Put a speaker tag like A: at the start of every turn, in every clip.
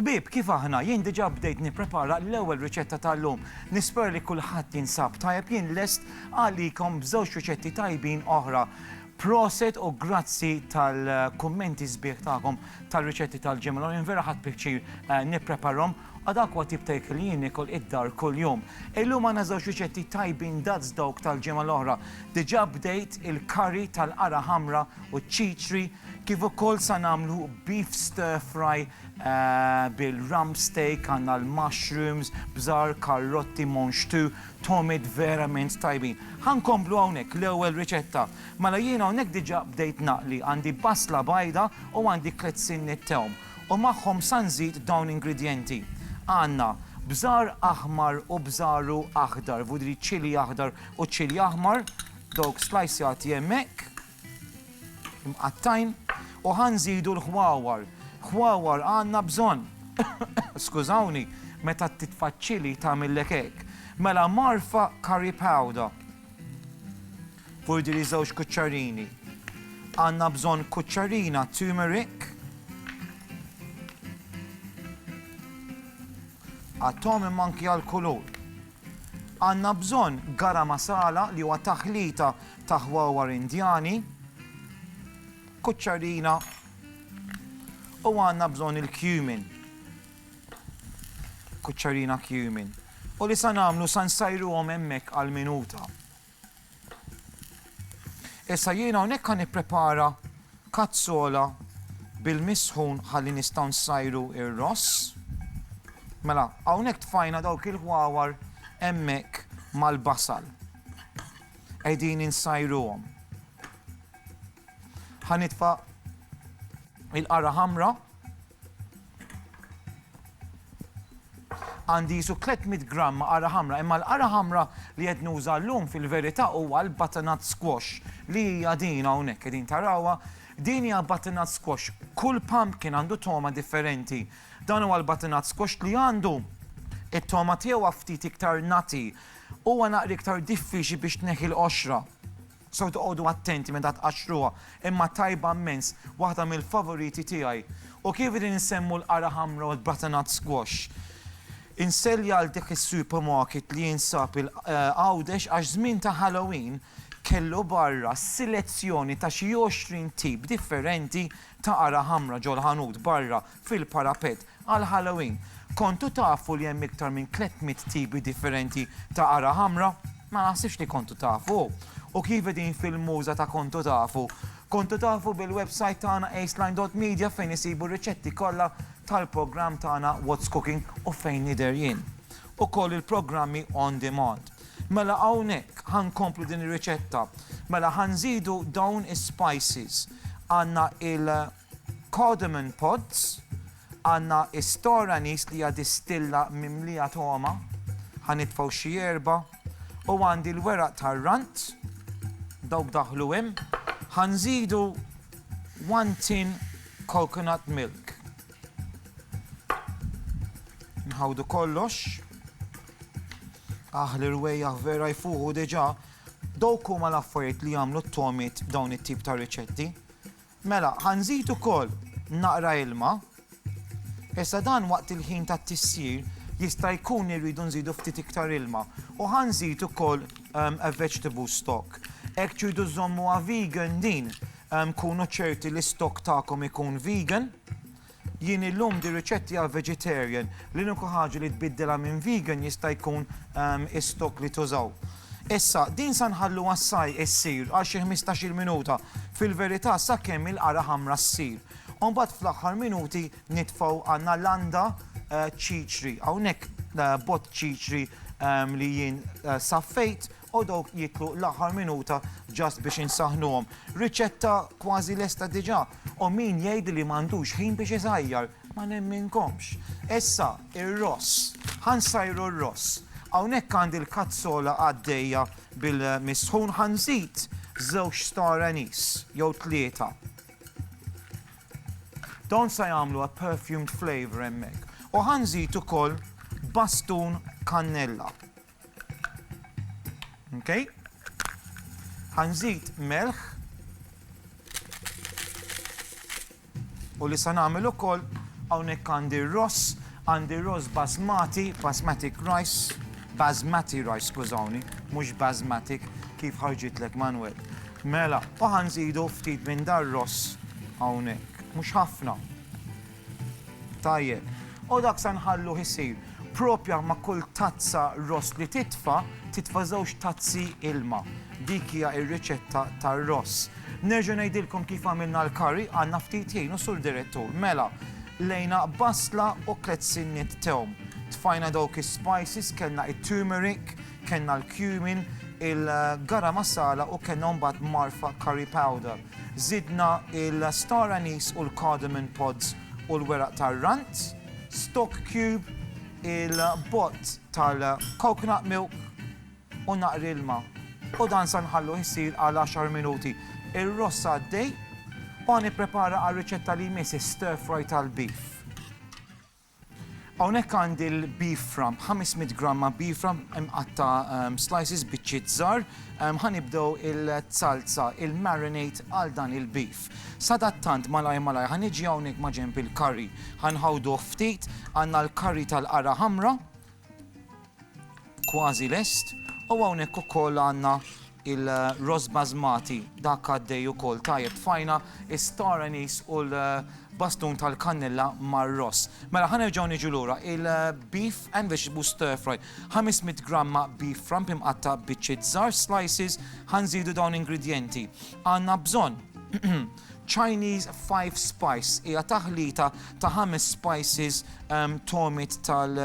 A: Ħbieb, kif aħna, jien diġà bdejt nipprepara l-ewwel riċetta tal-lum. Nispera li kulħadd jinsab tajjeb, jien lest għalikom b'żewġ riċetti tajbin oħra. Proset u grazzi tal-kummenti sbieħ tagħkom tar-riċetti tal-ġimgħa l-oħra, jien vera ħadt pjaċir nippreparhom. Ad aqwa tip ta' ikel jien niekol id-dar kuljum. Illum għandna żewġ riċetti tajbin daqs dawk tal-ġimgħa l-oħra. Diġà bdejt il-curry tal-qara ħamra u ċ-ċiċri, kif ukoll sa nagħmlu beef stir fry bil-rump steak, għandna l-mushrooms, bżar, karrotti, monxtu, tomiet verament tajbin. Ħa nkomplu hawnhekk l-ewwel riċetta. Mela jien hawnhekk diġà bdejt naqli, għandi basla bajda u għandi tliet sinniet tewm. u magħhom sa nżid dawn ingredjenti. Għandna, bżar aħmar u bżaru aħdar, vuol dire ċili aħdar u ċili aħmar, dawk slajsjati hemmhekk, imqattgħin, u ħa nżidu l-ħwawar. Ħwawar għandna bżonn. Skużawni, meta titfa' ċili tagħmillek hekk. Mela mgħarrfa curry powder. Burdiri żewġ kuċċarini. Għandna bżonn kuċċarina turmeric. Għat-tom imma anki għall-kulur. Għandna bżonn gara masala li huwa taħlita ta' ħwawar indjani. Kuċċarina u għanna bżon il-cumin. Kuċċarina cumin. U li sa namlu sa nsajru għom emmek għal-minuta. Issa jiena hawnhekk ħa nipprepara kazzola bil-misħun ħalli nistgħu nsajru ir-ross. Mela, hawnhekk tfajna dawk il-ħwawar hemmhekk mal-basal. Qegħdin insajruhom. Ħa nitfa' il-qara ħamra Għandi qisu 300 gramm ma' qara ħamra, imma l-qara ħamra li qed nuża llum fil-verità huwa l-butternut squash li hija din hawnhekk qegħdin tarawha. Din hija butternut squash. Kull pumpkin għandu togħma differenti. Dan huwa l-butternut squash li għandu it-togħma tiegħu ftit iktar nati. Huwa naqra iktar diffiċli biex tneħħi l-qoxra. Sew toqogħdu attenti meta tqaxxruha, imma tajba mmens, waħda mill-favoriti tiegħi. U kif qegħdin insemmu l-qara ħamra u l-butternut squash, inselli għal dak is-supermarket li jinsab Għawdex għax żmien ta' Halloween kellu barra selezzjoni ta' xi għoxrin tip differenti ta' qara ħamra ġol-ħanut barra. fil-parapett għal Halloween. Kontu tafu li hemm iktar minn 300 tipi differenti ta' qara ħamra? Ma naħsibx li kontu tafu. U kif qegħdin fil-muża ta' kontu tafu? Kontu tafu bil-website tagħna aceline.media fejn isibu r-riċetti kollha tal-programm tagħna What's Cooking u fejn nidher jien. Ukoll il-programmi on demand. Mela hawnhekk ħa nkomplu din ir-riċetta. Mela ħa nżidu dawn is-spices. Għandna il- Cardamom pods, għandna store anise li hija distilla mimlija togħma, ħa nitfgħu xi erba', u għandi l-weraq tar-rant, dawk daħlu hemm, ħa nżidu one tin coconut milk. Nħawdu kollox, aħ l-irwejjaħ vera jfuħu diġà, dawk huma l-affarijiet li jagħmlu t-togħmiet f'dawn it-tip ta' riċetti, Mela, ħa nżid ukoll naqra ilma. Issa dan waqt il-ħin tat-tissir jista' jkun li rridu nżidu ftit iktar ilma. U ħa nżid ukoll a vegetable stock. Hekk tridu żżommuha vegan din, kunu ċerti li s-stock tagħkom ikun vegan. Jien illum di riċetti għal vegetarian. L-uniku ħaġa li tbiddilha minn vegan jista' jkun is-stock li tużaw. Issa, din sa nħalluha ssai issir għal xi ħmistax-il minuta, fil-verità sakemm il-qara ħamra ssir. U mbagħad fl-aħħar minuti nitfgħu għandna landa ċiċri. Hawnhekk bott ċiċri li jien saffejt. u dawk jieklu l-aħħar minuta just biex insaħħnuhom. Riċetta kważi lesta diġà u min jgħid li m'għandux ħin biex iżajjar, ma nemminkomx. Issa, ir-ross. Ħa nsajru r-ross. Hawnhekk għandi l-kazzola għaddejja bil-misħun ħa nżid żewġ star anise jew tlieta. Dawn se jagħmlu a perfumed flavour hemmhekk. U ħa nżid ukoll bastun kannella. Okay. Ħanżid melħ u li sa nagħmel ukoll hawnhekk għandi ross, għandi ross basmati, basmatic rice, basmati rice, skużawni, mhux basmatic kif ħarġitlek Manuel. Mela, u ħanżidu ftit minn dar ross hawnhekk, mhux ħafna. Tajjeb. U dak se nħalluh isir. Proprja ma' kull tazza ross li titfa', titfa' żewġ tazzi ilma. Dik hija r-riċetta tar-ross. Nerġa' ngħidilkom kif għamilna l-curry, għandna ftit ħin u Sur Direttur. Mela, qlejna basla u tliet sinniet tewm. Tfajna dawk is-spices, kellna it-turmeric, kellna l-cumin, il-garam masala u kellna mbagħad marfa curry powder. Żidna l-star anise u l-cardamom pods u l-weraq tar-rant, stock cube, il-bott tal-coconut milk u naqra ilma u dan sa nħalluh isir għal għaxar minuti. Ir-ross għaddej u ħa nipprepara għar-riċetta li jmiss, is-stir fry tal-beef. Hawnhekk għandi l-beef rump, 500 gramma beef rump imqatta' slices, biċċiet żgħar. Ħa nibdew il-salza, il-marinade għal dan il-beef. Sadattant malajr malajr ħa niġi hawnhekk ma' ġenb il-curry. Ħa nħawduh ftit, għandna l-curry tal-qara ħamra. Kważi lest, u hawnhekk ukoll għandna il-ross basmati, dak għaddej ukoll tajjeb. Tfajna is-star anise u l-bastun tal-kannella mar-ross. Mela ħa nerġgħu niġu lura, il-beef and vegetable stir fry. 500 gramma beef rump imqatta' biċċiet żgħar, slices, ħa nżidu dawn ingredjenti. Għandna bżonn Chinese five spice, hija taħlita ta' ħames spices, togħmiet tal-,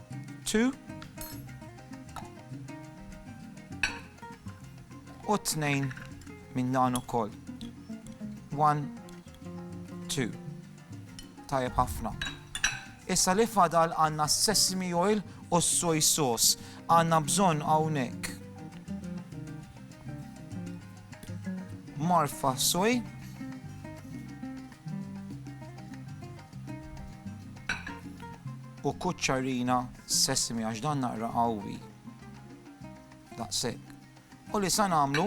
A: 2 u tnejn minn dan ukoll. 1 2 Tajjeb ħafna. Issa li fadal għandna sesame oil u soy sauce. Għandna bżonn hawnhekk. Marfa soy U kuċċarina sesmi għax dan naqra qawwi. Daqshekk. U li sa nagħmlu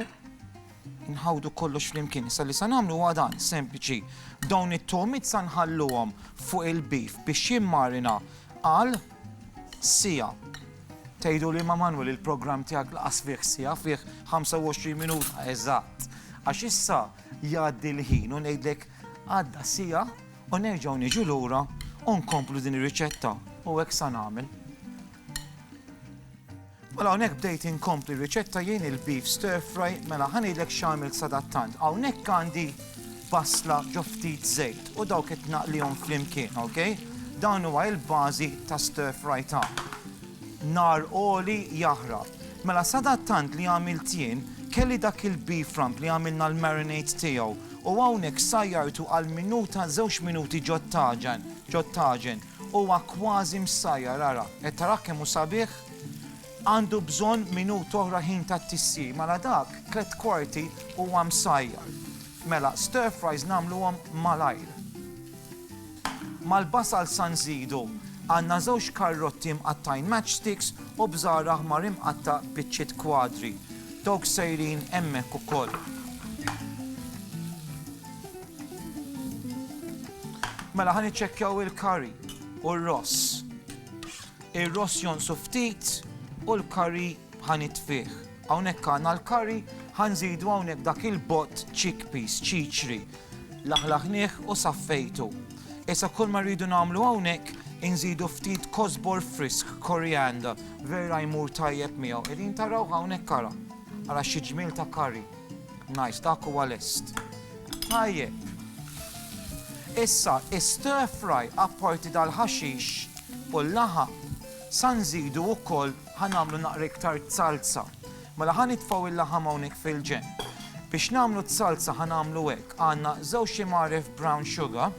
A: nħawdu kollox flimkien. Issa li sa nagħmlu huwa dan sempliċi. Dawn it-tomit sa nħalluhom fuq il-bif biex jimmarina għal sija. Tgħidu li ma Manwel il-programm tiegħek laqas fih sija fih 25 minuta eżatt. Għax issa Jgħaddi l-ħin u ngħidlek għadda siegħa u nerġgħu niġu lura u nkomplu din ir-riċetta u hekk sa nagħmel. Mela hawnhekk bdejt inkompli riċetta jien il-beef stir fry mela ħanidlek x'għamil sadattant. Hawnhekk għandi basla ġo ftit żejt u dawk qed naqlihom flimkien, ok? Dan huwa il-bażi ta' stir fry ta' Nar għoli jaħrab. Mela sadattant li għamilt jien, kelli dak il-beef rump li għamilna l-marinade tiegħu u hawnhekk sajjartu għal minuta żewġ minuti ġot-taġen, ġot-taġen. Huwa kważi msajjar ara, qed tarah kemm hu sabiħ? Għandu bżonn minuta oħra ħin tat-tisjir, mela dak tliet kwarti huwa msajjar. Mela stir fries nagħmluhom malajr. Mal-Basal San Zidu għandna żewġ karrotti mqattgħin matchsticks u bżara ħmar imqatta' biċċiet kwadri. Dawk sejrin hemmhekk ukoll. Mela ħa niċċekkjaw il-curry u r-ross. Ir-ross jonqsu ftit u l-curry ħa nitfih. Hawnhekk għandna l-curry, ħa nżidu hawnhekk dak il-bott chickpeas, ċiċri. Laħlaħnieh u saffejtu. Issa kull ma rridu nagħmlu hawnhekk inżidu ftit kosbor frisk, coriander, vera jmur tajjeb miegħu. Qegħdin taraw hawnhekk ara. Ara xi ġmiel ta' curry. Nice, dak huwa lest. Tajjeb. Issa, is-stir fry apparti dal-ħaxix u l-laħa sa nżidu wkoll Ħa nagħmlu naqra iktar zalza. Mela ħa nitfgħu il-laħam hawnhekk fil-ġenb. Biex nagħmlu z-zalza ħa nagħmlu hekk, għandna żewġ imgħaref brown sugar.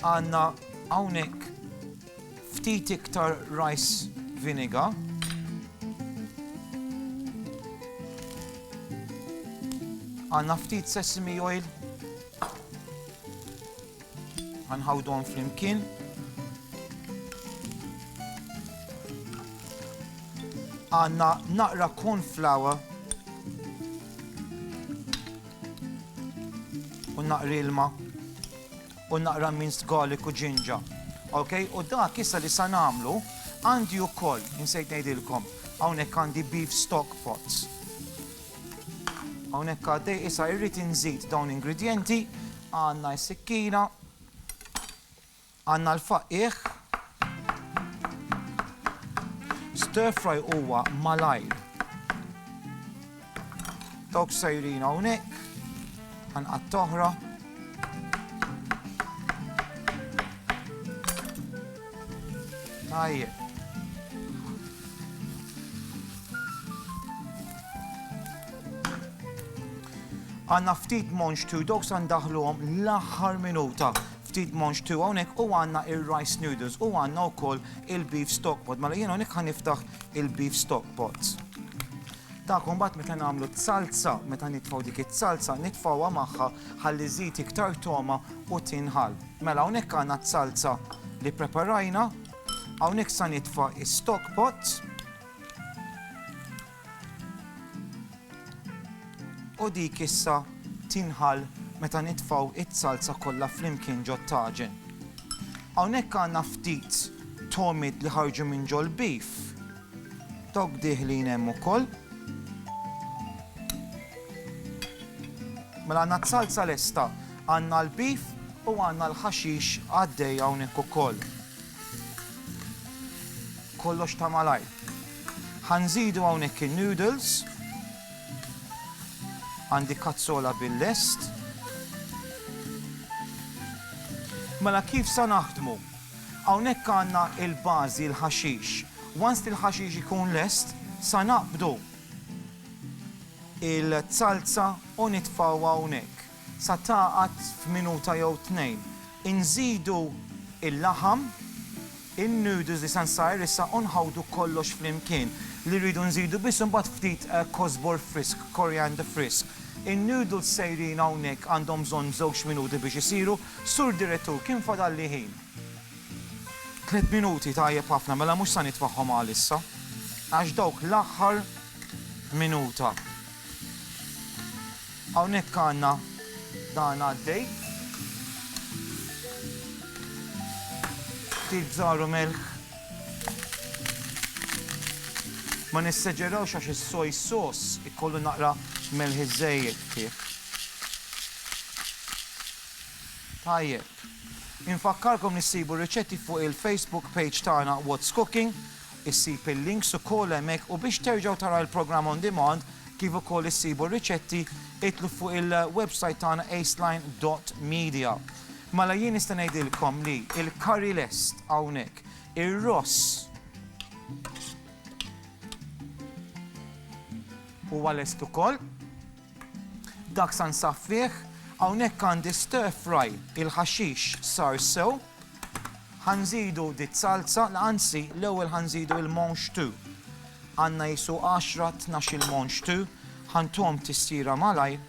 A: Għandna hawnhekk ftit iktar rice vinegar. Għandna ftit sesame oil Ħanħawduhom flimkien. Għandna naqra corn flour u naqra ilma u naqra minced garlic u ġinġa. Ok, u dak issa li sa nagħmlu għandi wkoll insejt ngħidilkom hawnhekk għandi beef stock pots. Hawnhekk għaddej issa irrid inżid dawn ingredienti Għandna s-sikkina, għandna l-faqqiegħ. Stir fry huwa malajr. Dawk sejrin hawnhekk, għanqat toħra. Tajjeb. Għanna ftit monx tu dawk san daħluhom l-aħħar minuta. Ftit monx tu hawnhekk u għanna ir-rice noodles u għanna wkoll il-beef stock pot. Mela jien hawnhekk ħan niftaħ il-beef stock pot. Ta' kumbat meta nagħmlu t-salza, meta nitfaw dik it-salza, nitfawha magħha ħalli żid iktar toma u tinħal. Mela hawnhekk għandna t-salza li preparajna, hawnhekk sa nitfa' is-stock pot. U dik issa tinħall meta nitfgħu z-zalza kollha flimkien ġot-taġen. Hawnhekk għandna ftit togħmiet li ħarġu minn ġol-beef. Dawk dieħlin hemm ukoll. Mela għandna z-zalza lesta, għandna l-beef u għandna l-ħaxix għaddej hawnhekk ukoll. Kollox ta' malajr. Ħa nżidu hawnhekk in-noodles. Għandi kazzola bil-lest. Mela kif sa naħdmu? Hawnhekk għandna il-bażi l-ħaxix. Once li l-ħaxix ikun lest, sa naqbdu il-zalza u nitfgħu hawnhekk. Sa tagħqad f'minuta jew tnejn. Inżidu il-laħam. In-noodles li se nsajr issa u nħawdu kollox flimkien. Li rridu nżidu biss imbagħad ftit kosbor frisk, coriander frisk. In-noodles sejrin hawnhekk għandhom bżonn żewġ minuti biex isiru. Sur Direttur, kemm fadalli ħin? Tliet minuti, tajjeb ħafna, mela mhux sa nitfagħhom għalissa. Għax dawk l-aħħar minuta. Hawnhekk għandna dan għaddej. Ftit żaru melħ. Ma nisseġerawx għax is-soj sos ikollu naqra melħ iżejjed fih. Tajjeb. Infakkarkom nissibu riċetti fuq il-Facebook page tagħna What's Cooking Issib il-links ukoll hemmhekk u biex terġgħu taraw il-programm on demand kif ukoll issibu r-riċetti itlu fuq il-website tagħna aceline dot media. Mela jien nista' ngħidilkom li il-curry lest hawnhekk. Ir-ross huwa lest ukoll. Dak sa nsaffih, hawnhekk għandi stir fry, il-ħaxix sar sew, ħa nżidu diż-zalza, anzi l-ewwel ħa nżidu il-monx tu. Għandna qisu għaxra tnax il-monx tu, ħa ntuhom tissira malajr.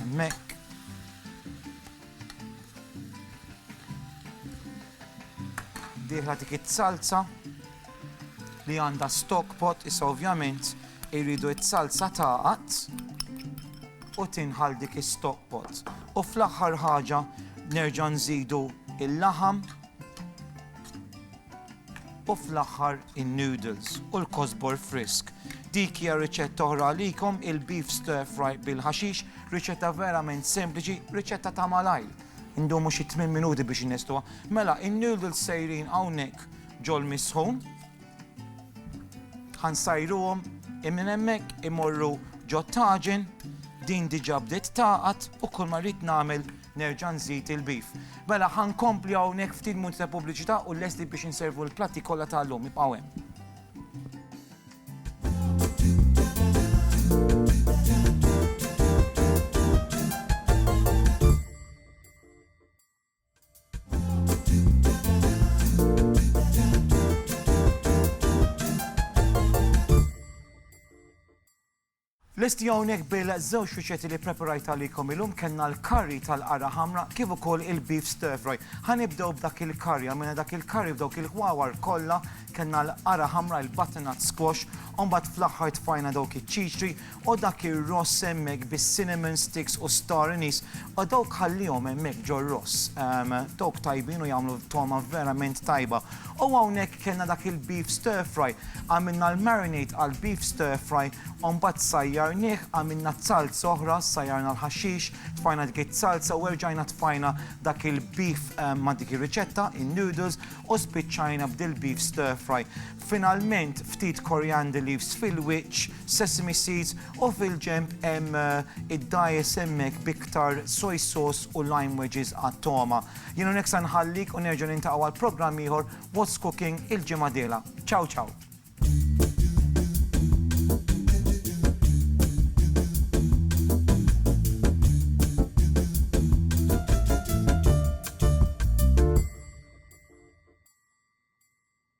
A: Hemmhekk diħla dik it-salza li għandha stock pot issa ovvjament irridu s-salsa tagħqad u tinħall dik is-stock pot. U fl-aħħar ħaġa nerġa' nżidu il-laħam u fl-aħħar in-noodles u l-kosbor frisk. Dik hija riċetta oħra għalikom il-beef stir fry bil-ħaxix, riċetta verament sempliċi, riċetta ta' malajr. Ndumu xi 8 minuti biex innestuha. Mela, in-noodles sejrin hawnhekk Ġol misħun. Ħa nsajruhom i minn hemmhekk imorru ġot-taġen, din diġà bdiet tagħqad u kull ma rrid nagħmel nerġa' nżid il-beef. Mela ħa nkompli hawnhekk ftit munt ta' pubbliċità u lesti biex inservu l-platti kollha ta' llum ibqgħu hemm. Lesti hawnhekk bil-żewġ riċetti li preparajt għalikom illum kellna l-curry tal-qara ħamra kif ukoll il-beef stir fry. Ħanibdew b'dak il-curry, għamilna dak il-curry f'dawk il-ħwawar kollha, kellna l-qara ħamra, il-butternut squash, u mbagħad fl-aħħar tfajna dawk iċ-ċiċri O dak ir-ross hemmhekk bis-cinnamon sticks u s-star anise, o dawk ħallihom hemmhekk ġor-ross. Ehm, dawk tajbin u jagħmlu togħma verament tajba. O hawnhekk kellna dak il-beef stir fry, għamilna l-marinade għall-beef stir fry, o mbagħad sajjarnih, għamilna zalz oħra, sajjarna l-ħaxix, tfajna dik iz-zalza u erġajna tfajna dak il-beef ma' dik ir-riċetta, in-noodles, u spiċċajna b'dil-beef stir fry. Finalment ftit coriander leaves fil-wiċċ, sesame seeds u fil-ġenb hemm id-dajjes hemmhekk b'iktar soy sauce u lime wedges għat-togħma. Jien hawnhekk sa nħallik u nerġa' niltaqgħu għal programm ieħor What's Cooking il-ġimgħa diela. Ciao ciao!